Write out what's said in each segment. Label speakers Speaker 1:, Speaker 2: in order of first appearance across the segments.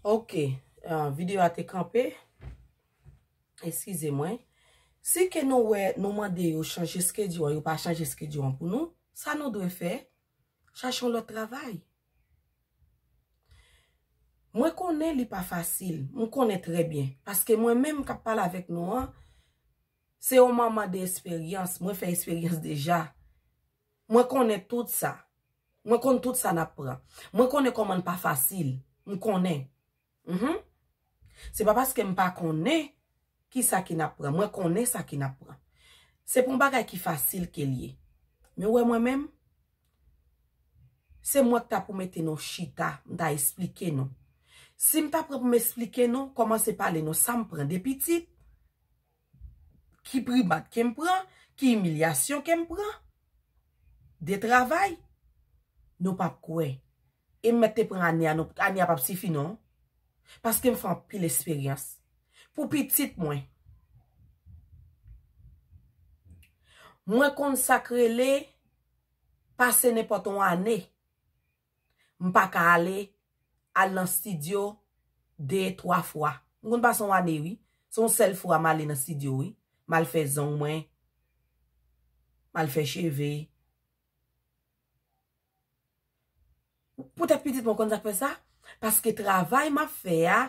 Speaker 1: Ok, euh, video a te kanpe. Eskize mwen. Si ke nou wè, nou mande yo chanje skedyo an, yo pa chanje skedyo an pou nou, sa nou dwe fè, chache yon lòt travay. Mwen konnen li pa fasil, mwen konnen trè byen. Paske mwen menm kap pale avèk nou an, se yon manman de esperyans, mwen fè esperyans deja. Mwen konnen tout sa. Mwen konn tout sa nap pran. Mwen konnen koman n pa fasil. M konnen. Mh. Se pa paske m pa konnen ki sa ki nap pran. Mwen konnen sa ki nap pran. Se pa yon bagay ki fasil ke l ye. Men w wè mwen menm? Se mwen k ta pou mete nou chita. M ta esplike nou. Si m ta pran pou m esplike nou, komanse pale nou sa m pran de pitit, Ki primat ke m pran? Ki imilyasyon ke m pran? De travay? Nou p ap kwè. E m mèt te pran ane a non. Ane a p ap sifi non. Paske m fè anpil esperyans. Pou pitit mwen. Mwen konn sa k rele pase nenpòt yon ane. M pa ka ale al nan stidyo 2, 3 fwa. M konn pase yon ane wi. Se yon sèl fwa m ale nan stidyo wi. M al fè zong mwen. M al fè cheve. Poutèt pitit mwen, ou konn sa k fè sa? Paske travay m ap fè a,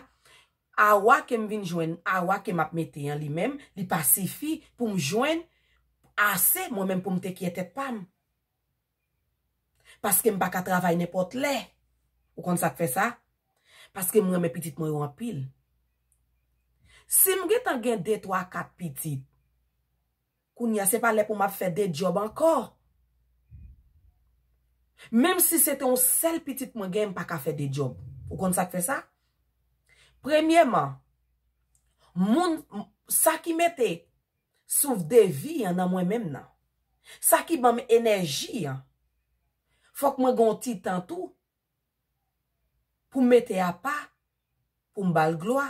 Speaker 1: awa ke m vin jwenn, awa ke m ap mete an li menm, li pa sifi pou m jwenn ase mwen menm pou m tekye tèt pa m. Paske m pa ka travay nenpòt lè. Ou konn sa k fè sa? Paske m renmen pitit mwen yo anpil. Si m gen tan gen de, twa, kat pitit, kounye a se pa lè pou m ap fè de djòb ankò. Menm si se te yon sèl pitit mwen gen, m pa ka fè de djòb. Ou konn sa k fè sa? Premyèman, moun, sa ki mete Souf de vi an nan mwen menm nan. Sa ki banm enèji an. Fòk mwen gen yon ti tan tou pou m mete apa pou m ba l glwa,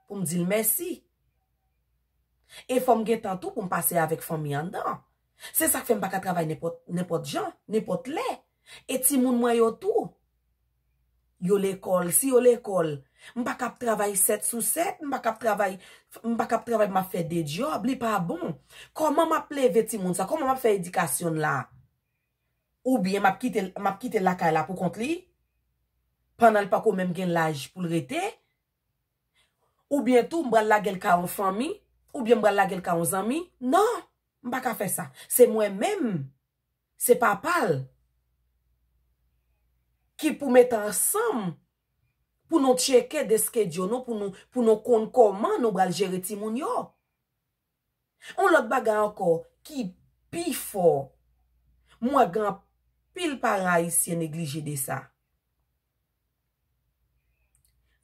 Speaker 1: pou m di l mèsi. E fò m gen tan tou pou m pase avèk fanmi anndan an. Se sa k fè m pa ka travay nenpòt jan, nenpòt lè. E timoun mwen yo tou. Yo lekòl, si yo lekòl, m pa kab travay 7 sou 7, m pa kab travay, m pa kab travay m ap fè 2 dyòb, li pa bon. Kòman m ap leve timoun sa? Kòman m ap fè edikasyon l la? Oubyen m ap kite l, m ap kite l lakay la pou kont li, pandan l pa ko menm gen laj pou l rete? Oubyen tou m pral lage l ka yon fanmi? Oubyen m pral lage l ka yon zanmi? Non! M pa ka fè sa. Se mwen menm Se papa l ki pou met ansanm pou nou tcheke de skedyo nou pou nou konn kòman nou bal jere timoun yo. On lòt bagay ankò ki pi fò, m wè gen anpil paran ayisyen neglije de sa.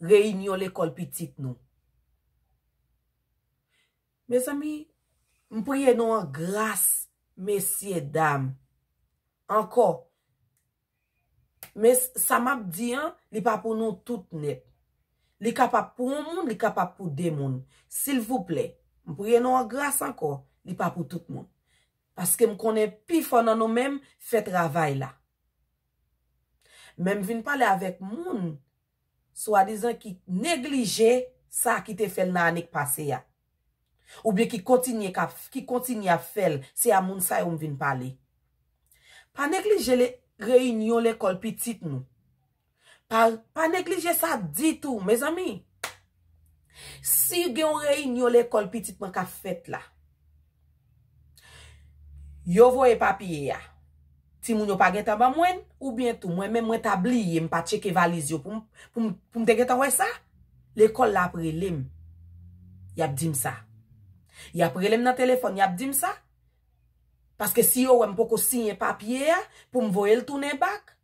Speaker 1: Reyinyon lekòl pitit nou. Mezanmi m priye nou an gras mesye dam ankò men sa map di an li pa pou nou tout nèt li kapab pou yon moun li kapab pou 2 moun silvouplè m priye nou an gras ankò li pa pou tout moun paske m konnen pifò nan nou menm fè travay la men m vin pale avèk moun swadizan ki neglije sa ki te fèl nan ane k pase a oubyen ki kontinye kap ki kontinye ap fèl se a moun sa yo m vin pale pa neglije le reyinyon lekòl pitit nou pa pa neglije sa ditou mezanmi si gen yon reyinyon lekòl pitit mwen kap fèt la. Yo voye papye a. Timoun yo pa gentan ban mwen l, oubyen tou mwen menm mwen ta bliye m pa tcheke valiz yo pou m pou m te gentan wè sa. Lekòl la ap rele m, y ap di m sa. Y ap rele m nan telefòn, y ap di m sa. Paske si yo wè m poko siyen papye a pou m voye l tounen bak,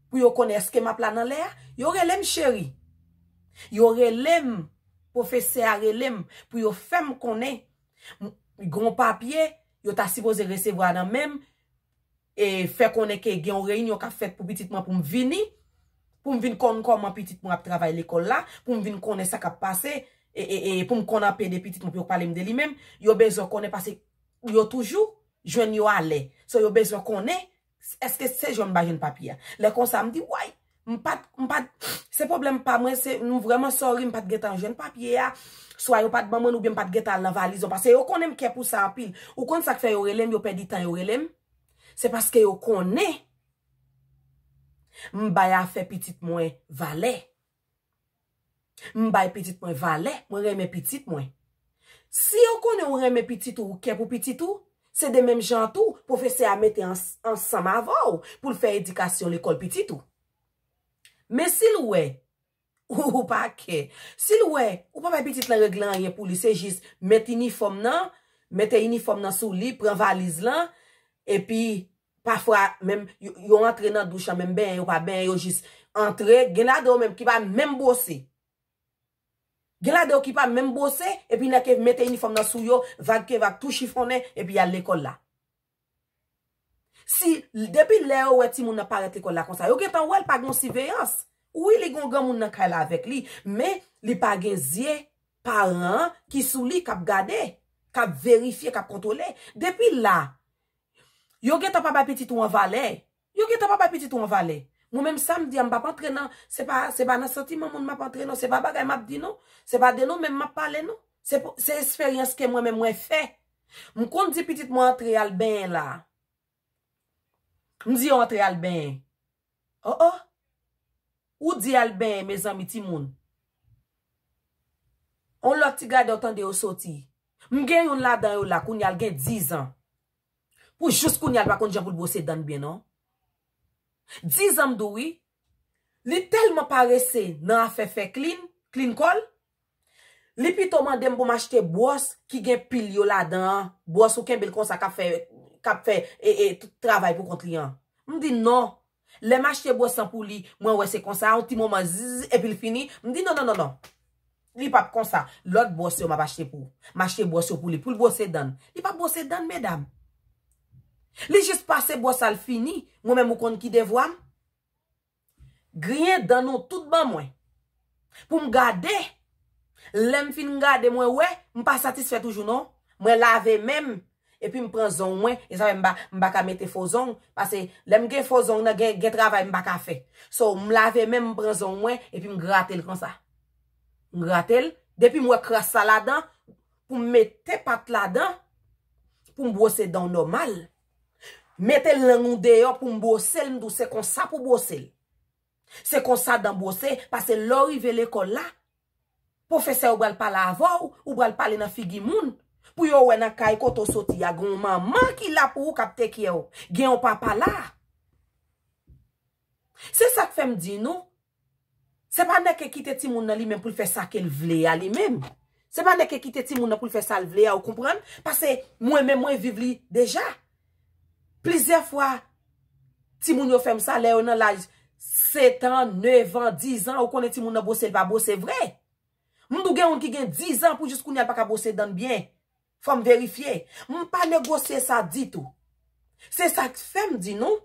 Speaker 1: pou yo konnen èske m ap la nan lè a, yo rele m cheri. Yo rele m, pwofesè a rele m pou yo fè m konnen. Gon papye yo ta sipoze resevwa nan men m e fè konnen ke gen yon reyinyon k ap fèt pou pitit mwen pou m vini, pou m vin konn kòman pitit mwen ap travay lekòl la, pou m vin konnen sa k ap pase, e pou m konn anpe de pitit mwen pou yo pale m de li menm. Yo bezwen konnen paske yo toujou jwenn yo alè. So yo bezwen konnen Eske se jwenn m pa jwenn papye a. Lè konsa m di way! M pat, m pat, se pwoblèm pa mwen, se, m vrèman sorry m pat gentan jwenn papye a, swa yo pat ban mwen l oubyen m pat gentan al nan valiz yo. Pase yo konnen m kè pou sa anpil. Ou konn sa k fè yo rele m, yo pèdi tan yo rele m? Se paske yo konnen m bay afè pitit mwen valè. M bay pitit mwen valè, mwen renmen pitit mwen. Si yo konnen ou renmen pitit ou, ou kè pou pitit ou, se de menm jan an tou, pwofesè a mete ansanm avè w pou l fè edikasyon lekòl pitit ou. Men si l wè, ou pa kè, si l wè, ou pa bay pitit lan regle anyen pou li, se jis met inifòm nan, mete inifòm nan sou li, pran valiz lan, epi Pafwa menm yo antre nan douch an menm benyen yo pa benyen yo jis antre, gen ladan yo menm ki pa menm bwose. Gen ladan yo ki pa menm bwose epi nan ke mete inifòm nan sou yo, vag ke vag tou chifonnen epi yal lekòl la. Si depi lè yo wè timoun nan parèt lekòl la konsa yo gentan wèl pa gon siveyans. Wi li gon granmoun nan kay la avèk li men li pa gen zye paran an ki sou li kap gade, kap verifye, kap kontwole. Depi la Yo gentan pa bay pitit ou an valè. Yo gentan pa bay pitit ou an valè. Mwen menm sa m di a, m pa p antre nan, se pa se pa nan santiman moun m ap antre non, se pa bagay m ap di non, se pa de nou menm m ap pale non. Se pou se esperyans ke mwen menm mwen fè. M konn di pitit mwen antre al benyen la a. M di yo antre al benyen. Oh oh Ou di al benyen mezanmi timoun On lòt ti gadò tande yo soti M gen youn ladan yo la kounya l gen 10 ans Pou jous kounya l pa konn jan pou l bwose dan l byen non 10 ans m di w wi Li tèlman parese nan afè fè klin, klin kò l, Li pito mande m pou m achte bwòs ki gen pil yo ladan an, bwòs ou kenbe l konsa k ap fè k ap fè e e travay pou kont li an. M di non. Lè m achte bwòs lan pou li, mwen wè se konsa, yon ti moman zizzz epi l fini. M di nonnonnonnon. Li p ap konsa. Lòt bwòs yo m ap achte pou m achte bwòs yo pou li, pou l bwose dan l. Li p ap bwose dan l medam. Li jis pase bwòs la l fini. Mwen menm ou konn ki devwa m? Griyen dan nou tout ban mwen. Pou m gade. Lè m fin gade mwen wè m pa satisfè toujou non. Mwen lave men m epi m pran zong mwen. E sa fè m pa m pa ka mete fo zong. Pase lè m gen fo zong nan gen gen travay m pa ka fè. So m lave men m m pran zong mwen epi m grate l konsa. M grate l. Depi m wè kras la ladan pou m mete pat ladan pou m bwose dan w nòmal. Mete lang ou deyò pou m bwose l m di w se konsa pou bwose l. Se konsa dan bwose, pase lè w rive lekòl la, pwofesè yo pral pale avè w, ou pral pale nan figi moun, pou yo wè nan kay kote w soti a gen yon manman ki la pou ou k ap tekyè w, gen yon papa la. Se sak fèm di nou, se pa nèg ke kite timoun nan li menm pou l fè sa ke l vle a li menm. Se pa nèg ke kite timoun nan pou l fè sa l vle a ou konprann? Pase mwen menm mwen viv li deja. Plizyè fwa timoun yo fèm sa lè yo nan laj 7 an, 9 an, 10 an ou konnen timoun nan bwose l pa bwose vre. M tou gen youn ki gen 10 an pou jis kounya l pa ka bwose dan l byen. Fò m verifye. M pa negosye sa ditou. Se sa k fè m di nou,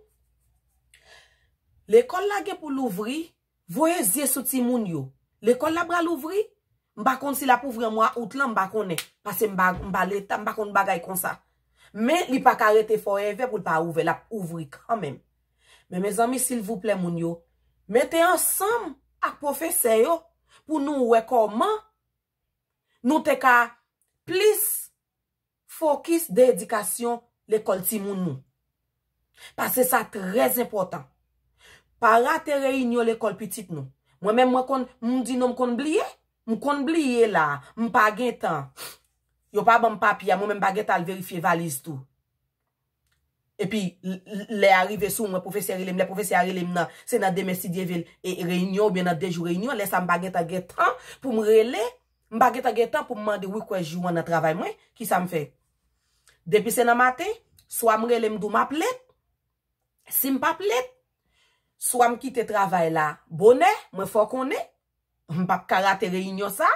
Speaker 1: lekòl la gen pou louvri, voye zye sou timoun yo. Lekòl la pral ouvri, m pa konn si l ap ouvri an mwa out lan, m pa konnen. Pase m pa Leta, m pa konn bagay konsa. Men, li pa ka rete forever pou l pa ouvè. L ap ouvri kanmenm. Men, mezanmi, silvouplè moun yo, mete ansanm ak pwofesè yo pou nou wè kòman nou te ka plis fokis de edikasyon lekòl timoun nou. Pase sa trè zenpòtan. Pa rate reyinyon lekòl pitit nou. Mwen menm mwen konn, m di non m konn bliye. M konn bliye la, m pa gen tan. Yo pa ban m papye a, mwen menm m pa gen tan al verifye valiz tou. Epi lè a rive sou mwen, pwofesè rele m, lè pwofesè a rele m nan, se nan demen si Dye vil, e reyinyon oubyen nan 2 jou reyinyon, lè sa m pa gen tan gen tan pou m rele, m pa gen tan gen tan pou m mande wi kwè jou an nan travay mwen, ki sa m fè? Depi se nan maten, swa m rele m di w m ap lèt, si m p ap lèt, swa m kite travay la bonè, mwen fè w konnen, M pap ka rate reyinyon sa.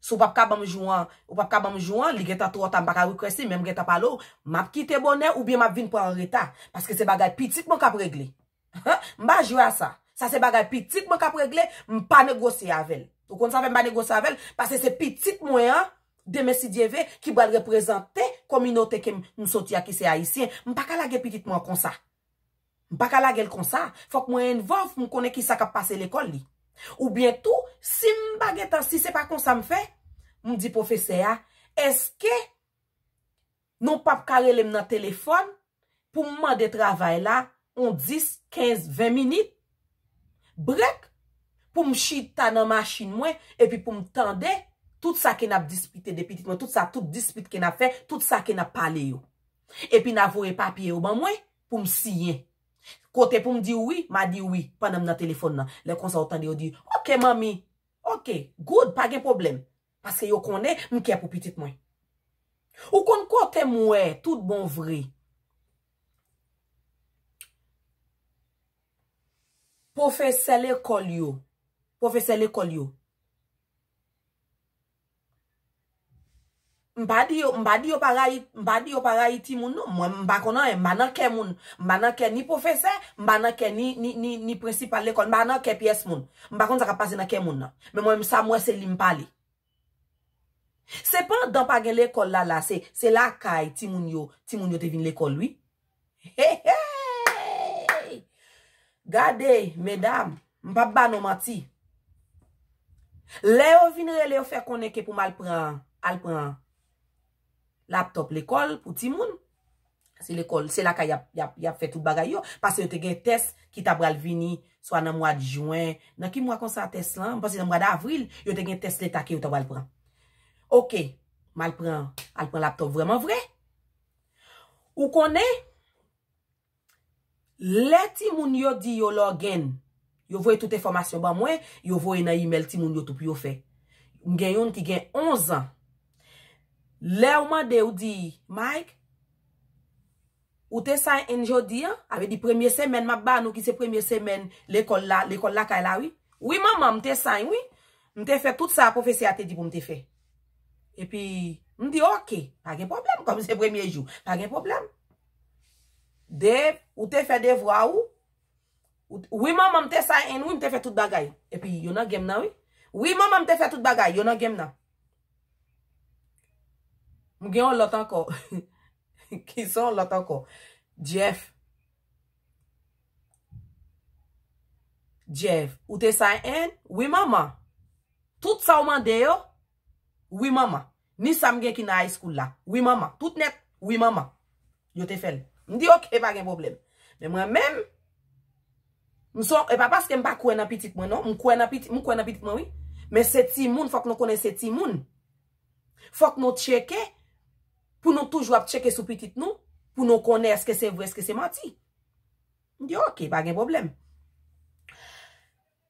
Speaker 1: Si w pap ka ban m jou an, ou pap ka ban m jou an, li gentan twò ta, m pa ka request li, men m gentan pale w, m ap kite bonè oubyen m ap vin pran an reta. Paske se bagay pitit mwen k ap regle. M pa jwe a sa. Sa se bagay pitit mwen k ap regle, m pa negosye avè l. Ou konn sa fè m pa negosye avè l? Pase se pitit mwen an, demen si Dye ve, ki pral reprezante kominote ke m soti a ki se Ayisyen. M pa ka lage pitit mwen an konsa. M pa ka lage l konsa, fòk mwen envòlv pou m konnen kisa k ap pase lekòl li. Oubyen tou, si m pa gen tan, si se pa konsa m fè, m di pwofesè a, èske nou p ap ka rele m nan telefòn pou m mande travay la yon 10, 15, 20 minit? Brèk pou m chita nan machin mwen epi pou m tande tout sa ke n ap dispite de pitit mwen, tout sa, tout dispit ke n ap fè, tout sa ke n ap pale yo. Epi na voye papye yo ban mwen pou m siyen. Kote pou m di w wi, ma di w wi pandan m nan telefòn nan. Lè konsa ou tande yo di, Oke manmi! Oke, good, pa gen pwoblèm. Paske yo konnen m kè pou pitit mwen. Ou konn kote m wè tout bon vre pwofesè lekòl yo, pwofesè lekòl yo. M pa di yo, m pa di yo pa rayi, m pa di yo pa rayi timoun non. Mwen m pa konn anyen, m pa nan kè moun. M pa nan kè ni pwofesè, m pa nan kè ni, ni, ni, ni prensipal lekòl, m pa nan kè pyès moun. M pa konn sa k ap pase nan kè moun nan. Men mwen menm sa m wè se li m pale. Se pandan pa gen lekòl la la, se, se lakay timoun yo, timoun yo te vin lekòl wi. Hehey Gade medam m pap ba nou manti lè yo vin rele yo fè konnen ke pou m al pran al pran laptop lekòl pou timoun se lekòl se lakay yap yap yap fè tout bagay yo pase yo te gen tès ki ta pral vini swa nan mwad jwen nan ki mwa konsa tès lan m panse nan mwa davril yo te gen tès leta ke yo ta pral pran ok m al pran al pran laptop vreman vre. Ou konnen, lè timoun yo di yo login, yo voye tout enfòmasyon ban mwen, yo voye nan email timoun yo tou pou yo fè. M gen youn ki gen 11 an. Lè ou mande ou di, Mike, ou te sign in jodi an? Sa vle di premye semèn m ap ba nou ki se premye semèn lekòl la, lekòl lakay la wi. Wi manman, m te sign wi. M te fè tout sa pwofesè a te di pou m te fè. Epi, m di ok, pa gen pwoblèm, kòm se premye jou, pa gen pwoblèm. De, ou te fè devwa ou? Wi manman, m te sign in wi, m te fè tout bagay. Epi, yo nan gèm nan wi. Wi manman, m te fè tout bagay, yo nan gèm nan. M gen yon lòt ankò. Ki sa yon lòt ankò? Jeff. Jeff, ou te sa en? Wi manman. Tout sa ou mande yo? Wi manman. Ni sa m gen ki nan high school la? Wi manman. Tout nèt? Wi manman. Yo te fè l. M di ok, pa gen pwoblèm. Men mwen menm, m son, e pa paske m pa kwè nan pitit mwen non, m kwè nan pitit mwen wi, men se timoun, fòk nou konnen se timoun. Fòk nou tcheke pou nou toujou ap tcheke sou pitit nou pou nou konnen eske se vre eske se manti. M di ok, pa gen pwoblèm.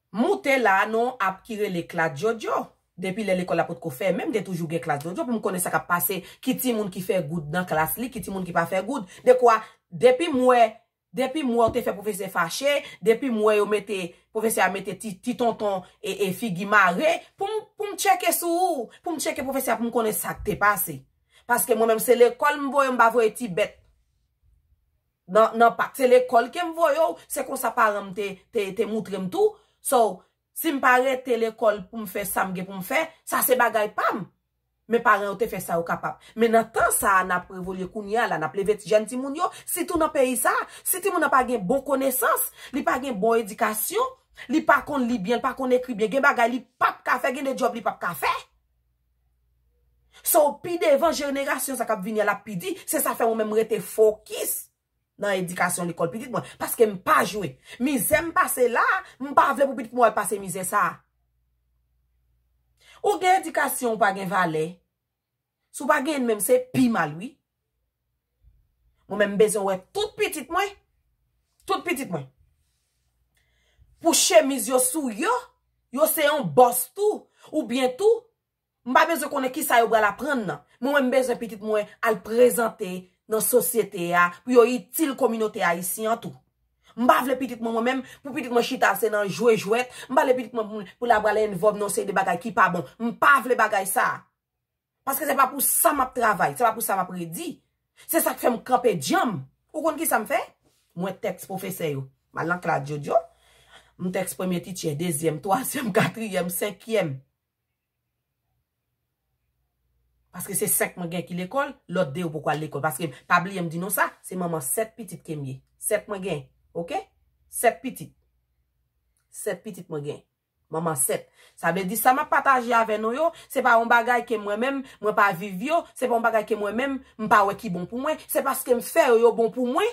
Speaker 1: M moute la nou ap ki rele klas Djodjo. Depi lè lekòl la potko fèmen m te toujou gen klas Djodjo pou m konnen sa k ap pase, ki timoun ki fè goud nan klas li, ki timoun ki pa fè goud. Dekwa depi m wè Depim wè ou te fè profesè fache, depim wè yo mete profesè a mete ti tonton e figi mare poum poum tcheke sou ou, poum tcheke profesè a poum konnen sak te pase. Paske mwen menm se lekòl m voye m pa voye ti bèt nan nan pak se lekòl kem voye w se konsa paranm te te moutrem tou so Si m pa rete lekòl pou m fè sa m gen pou m fè, sa se bagay pa m. Men paran yo te fè sa yo kapab. Men nan tan sa a n ap revolye kounye a la, n ap leve jèn timoun yo, sitou nan peyi sa a. Si timoun nan pa gen bon konesans, li pa gen bon edikasyon, li pa konn li byen, li pa konn ekri byen, gen bagay li p ap ka fè, gen de djòb li p ap ka fè. So, pi devan, jenerasyon sa k ap vini a l ap pi di. Se sa fè mwen menm m rete fokis nan edikasyon lekòl pitit mwen, paske m pa jwe. Mizè m pase la a, m pa vle pou pitit mwen al pase mizè sa a. Ou gen edikasyon ou pa gen valè. Si w pa genyen menm se pi mal wi. Mwen menm m bezwen wè tout pitit mwen, tout pitit mwen, pou chemiz yo sou yo, yo se yon bòs tou, oubyen tou, M pa bezwen konnen kisa yo pral aprann nan. Mwen menm m bezwen pitit mwen al prezante nan sosyete a pou yo itil kominote ayisyen an tou. M pa vle pitit mwen mwen menm pou pitit mwen chita se nan jwe jwèt, m pa vle pitit mwen pou la pral envòlv nan yon seri de bagay ki pa bon. M pa vle bagay sa. Paske se pa pou sa m ap travay, se pa pou sa m ap redi. Se sa k fè m kanpe dyanm. Ou konn kisa m fè? Mwen tèks pwofesè yo. M al nan klas Djodjo, m tèks premye tityè, dezyèm, twazyèm, katriyèm, senkyèm. Paske se 5 mwen gen ki lekòl, lòt 2 yo poko al lekòl. Paske, pa bliye m di nou sa, se manman 7 pitit ke m ye. 7 mwen gen. Ok? 7 pitit. 7 pitit mwen gen. Manman 7. Sa vle di sa m ap pataje avè nou yo, se pa yon bagay ke mwen menm, mwen pa viv yo, se pa yon bagay ke mwen menm, m pa wè ki bon pou mwen. Se paske m fè yo, yo bon pou mwen,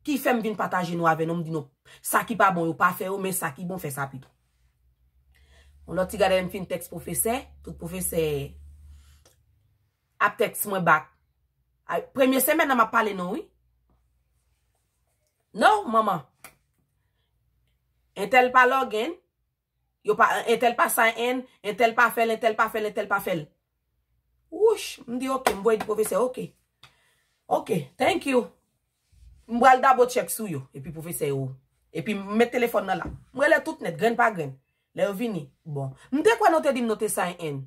Speaker 1: Ki fèm vin pataje nou avè nou m di nou sa ki pa bon yo pa fè yo men sa ki bon fè sa pito. Yon lòt ti gade lè m fin tèks pwofesè, tout pwofesè ap tèks mwen bak. Premye semèn nan m ap pale nou wi. No manman. Entèl pa lògin. Yo pa entèl pa sa en, entèl pa fèl, entèl pa fèl, entèl pa fèl. Wouch, m di ok, m voye di pwofesè ok. Ok, thank you. M pral dabo tchèk sou yo. Epi pwofesè yo, epi m met telefòn nan la. M rele tout nèt, grenn pa grenn. Lè yo vini, bon. M te kwè nou te di m nou te sa en.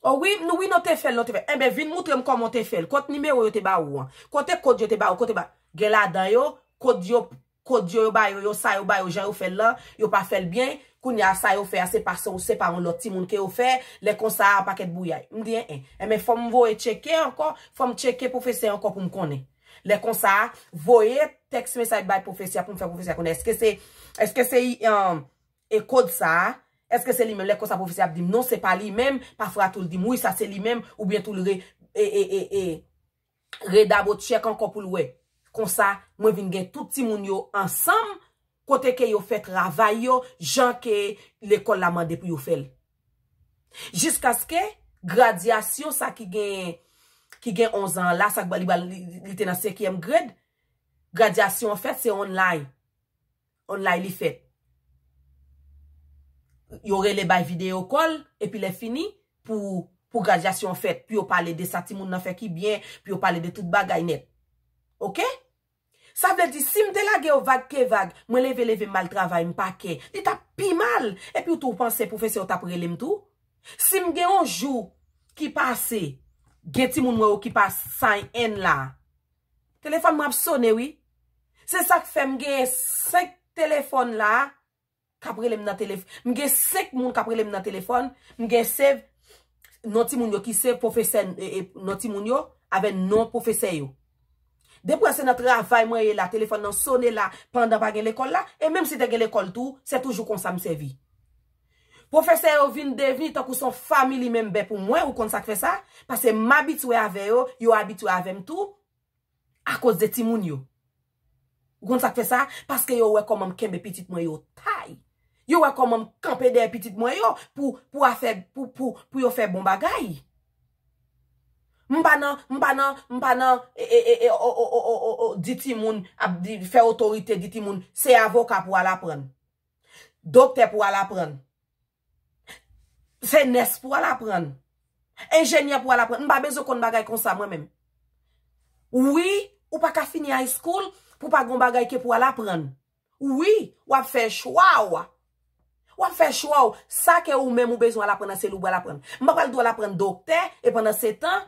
Speaker 1: O wi, m di wi nou te fèl, nou te fèl. Enben, vin moutre m kòman w te fèl. Kot nimewo yo te ba ou an? Kote kod yo te ba ou? Kote ba. Gen ladan yo, kod yo, Kodio yo bayo yo sa yo bayo jan yo fèl lan yo pa fèl byn kounya sa yo fè a se pa se ou se pa yon lòt timoun ke yo fè lè konsa a pakèt bouyay m di en en enben fòm voye tcheke ankò fòm tcheke pwofesè ankò poum konnen lè konsa a voye tèks mesaj bay pwofesè a poum fè pwofesè a konnen eske se eske se e kod sa a eske se li menm lè konsa pwofesè a ap dim non se pa li menm pafwa tou l dim wi sa se li menm oubyen tou l re e e e e. re dabo tchèk ankò poul wè. Konsa mwen vin gen tout timoun yo ansanm kote ke yo fè travay yo jan ke lekòl la mande pou yo fèl. Jiskaske gradyasyon sa ki gen ki gen 11 an la sa li te nan 5 yèm grade gradyasyon an fèt se online. online li fèt. Yo rele bay video call epi lè fini pou graduation an fèt pou yo pale de sa timoun nan fè ki byen pou yo pale de tout bagay nèt. Ok? Sa vle di sim te lage yo vag ke vag mwen leve leve mal travay m pa kè li tap pi mal epi tou ou panse pwofesè yo tap rele m tou? Sim gen yon jou ki pase gen timoun mwen yo ki pa sign in la. Telefòn mwen ap sone wi. Se sak fè m gen 5 telefòn la kap rele m nan telefòn. M gen 5 moun kap rele m nan telefòn. M gen save non ti moun yo ki save pwofesè non ti moun yo avè non pwofesè yo. Depwa se nan travay mwen ye la telefòn nan sone la pandan pa gen lekòl la e menm si te gen lekòl tou se toujou konsa m sèvi. Pwofesè yo vin devni tankou son family member pou mwen, ou konn sak fè sa? Pase m abitwe avè yo, yo abitwe avè m tou, akoz de timoun yo. Ou konn sak fè sa? Paske yo wè kòman m kenbe pitit mwen yo tay. Yo wè kòman m kanpe dèyè pitit mwen yo pou pou afè pou pou pou yo fè bon bagay. M pa nan, m pa nan, m pa nan e e e e o o o o o o di timoun ap di fè otorite di timoun se avoka pou al aprann. Doktè pou al aprann. Se nès pou al aprann. Enjenyè pou al aprann. M pa bezwen konn bagay konsa mwen menm. Wi, ou pa ka fini high school pou pa gon bagay ke pou al aprann. Wi, w ap fè chwa w. W ap fè chwa w. Sa ke ou menm ou bezwen al aprann nan se li ou pral aprann. M pa pral di w al aprann doktè e pandan se tan.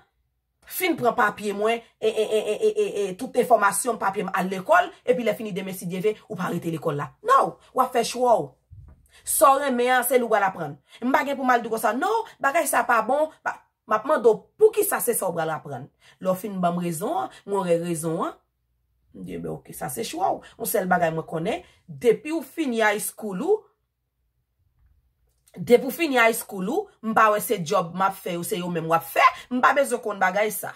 Speaker 1: Fin pran papye mwen ee tout enfòmasyon m papye m al lekòl epi lè fini demen sidyeve ou pa rete lekòl la no wap fè chwa w sa w renmen an se li w pral aprann m pa gen pou m al di konsa no bagay sa pa bon map mande w poukisa se sa w pral aprann lè w fin banm rezon an mwen wè rezon an m di enben ok sa se chwa w yon sèl bagay mwen konnen depi w fini high school ou. Depi w fini high school ou, m pa wè se job m ap fè yo se yo menm w ap fè, m pa bezwen konn bagay sa.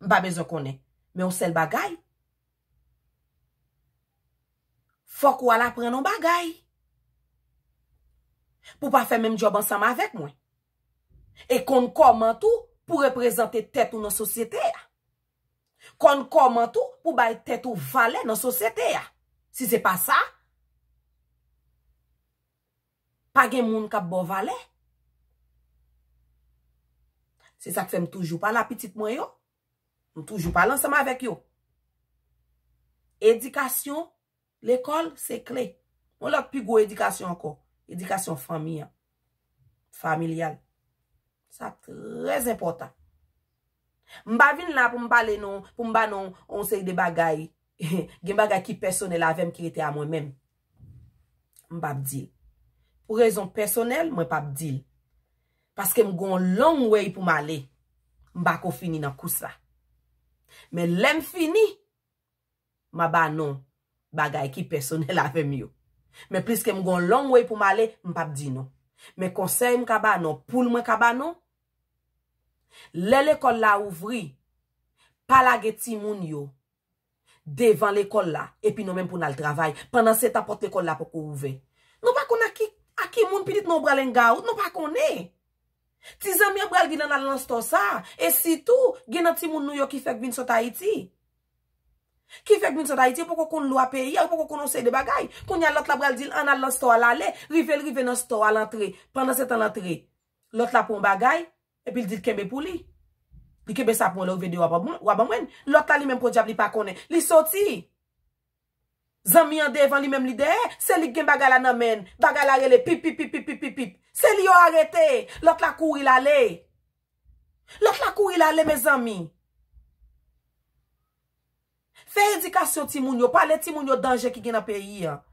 Speaker 1: M pa bezwen konnen. Men yon sèl bagay, fòk ou al aprann yon bagay. Pou w pa fè menm job ansanm avèk mwen. E konn kòman tou pou reprezante tèt ou nan sosyete a. Konn kòman tou pou bay tèt ou valè nan sosyete a. Si se pa sa, pa gen moun k ap ba w valè. Se sa k fè m toujou pale a pitit mwen yo, m toujou pale ansanm avèk yo. Edikasyon. Lekòl se kle. Yon lòt pi gwo edikasyon ankò, edikasyon fanmi an, familyal. Sa trè enpòtan. M pa vin la pou m pale nou, pou m ba nou yon seri de bagay. Gen bagay ki pèsonèl avè m ki rete a mwen menm. M pa p di l. Pou rezon pèsonèl, mwen pa p di l. Paske m gen yon long way pou m ale. M pa ko fini nan kous la. Men lè m fini. M a ba non bagay ki pèsonèl avè m yo. Men pliske m gon long way pou m ale, m p ap di non. Men konsèy m ka ba non poul mwen ka ba non, lè lekòl la ouvri, pa lage timoun yo devan lekòl la epi nou menm pou n al travay. Pandan se tan pòt lekòl la poko ouvè. Nou pa konn ak ki ak ki moun pitit nou pral engaout, nou pa konnen. Ti zanmi an pral di l an al nan stò sa a. E sitou, gen nan timoun nou yo ki fèk vin sot Ayiti. Ki fè Gmins Haiti yo poko konn lwa peyi a, yo poko konn yon seri de bagay. Kounye a lòt la pral di l an n al nan stò a, l ale. Rive l rive nan stò a, l antre. Pandansetan l antre, lòt la pran yon bagay epi l di l kenbe pou li. Li kenbe sa pou mwen lè w rive deyò a w a ban mwen. Lòt la li menm podyab li pa konnen. Li soti. Zanmi an devan li menm li dèyè, se li k gen bagay la nan men l, bagay la rele pipipipipipipip. Se li yo arete, lòt la kouri l ale. Lòt la kouri l ale mezanmi. Fè edikasyon timoun yo, pale timoun yo danje ki gen nan peyi an.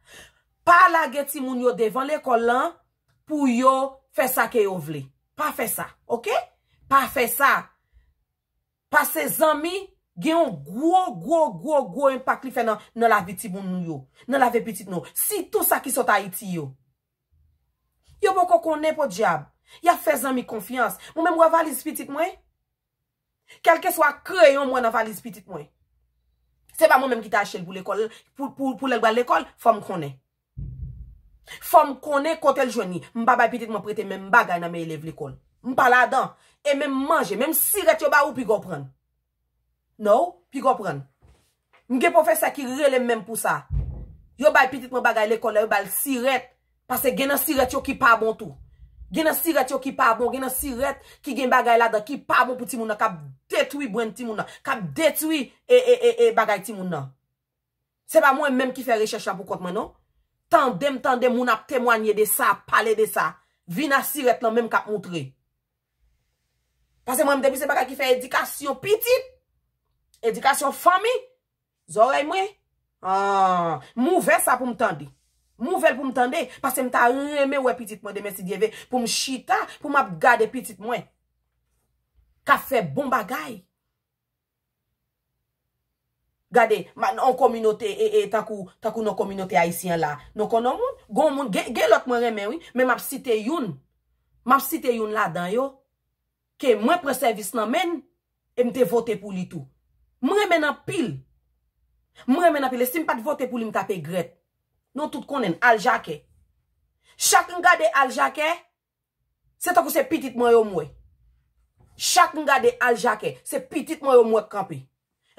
Speaker 1: Pa lage timoun yo devan lekòl lan pou yo fè sa ke yo vle. Pa fè sa, ok? Pa fè sa. Pase zanmi gen yon gwo gwo gwo gwo enpak li fè nan lavi timoun nou yo. Nan lavi pitit nou. Sitou sa ki sot Ayiti yo. Yo poko konnen podyab. Yap fè zanmi konfyans. Mwen menm wè valiz pitit mwen. Kelke swa kreyon mwen nan valiz pitit mwen. Se pa mwen menm ki ta achetel pou lekol. Pou lèl bal lekol. Fòm konnen. Fòm konnen kotel jwenn li. M pa bay pitit mwen prete menm bagay nan men elèv lekòl. M pa ladan. E menm manje, menm sirèt yo ba ou piga w prann. No, piga w prann. M gen pwofesè ki rele m menm pou sa. Yo bay pitit mwen bagay lekòl la, yo ba l sirèt. Pase gen nan sirèt yo ki pa bon tou. Gen nan sirèt yo ki pa bon, gen nan sirèt ki gen bagay ladan ki pa bon pou timoun nan, k ap detwi brenn timoun nan, k ap detwi e, e, e, e bagay timoun nan. Se pa mwen menm ki fè rechèch la pou kont mwen non. Tande m tande moun ap temwanye de sa, ap pale de sa. Vi Nasirèt lan menm k ap moutre. Pase mwen m depi se bagay ki fè edikasyon pitit, edikasyon fanmi, zòrèy mwen, an, m ouvè sa pou m tande. M ouvè l pou m tande, pase m ta renmen wè pitit mwen demen si Dye ve, pou m chita, pou m ap gade pitit mwen k ap fè bon bagay. Gade, nan yon kominote e tankou, tankou nan kominote ayisyen an la, nou konnen yon moun, gon moun, gen, gen lòt mwen renmen wi, men m'ap site youn, m'ap site youn ladan yo, ke mwen pran sèvis nan men l, e m te vote pou li tou. M renmen l anpil. M renmen l anpil. E si m pa t vote pou li m t ap egrèt. Nou tout konnen l, Al Jacquet. Chak m gade Al Jacquet, Se tankou se pitit mwen yo m wè. Chak m gade Al Jacquet, se pitit mwen yo m wè k kanpe.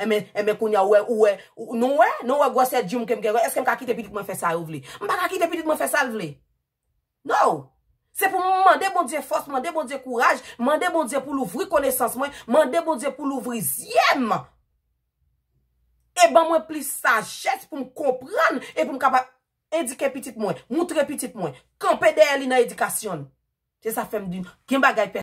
Speaker 1: Enben, enben kounye a ou wè, ou wè, nou wè, nou wè gwòsè dyoum ke m gen, èske m ka kite pitit mwen fè sa yo vle? M pa ka kite pitit mwen fè sa l vle. No! Se pou m mande Bondye fòs, mande Bondye kouraj, mande Bondye pou l ouvri konesans mwen, mande Bondye pou l ouvri zye m e ban mwen plis sajès pou m konprann e pou m kapab Edike pitit mwen, moutre pitit mwen, kanpe dèyè li nan edikasyon l. Se sa fè m di, gen bagay.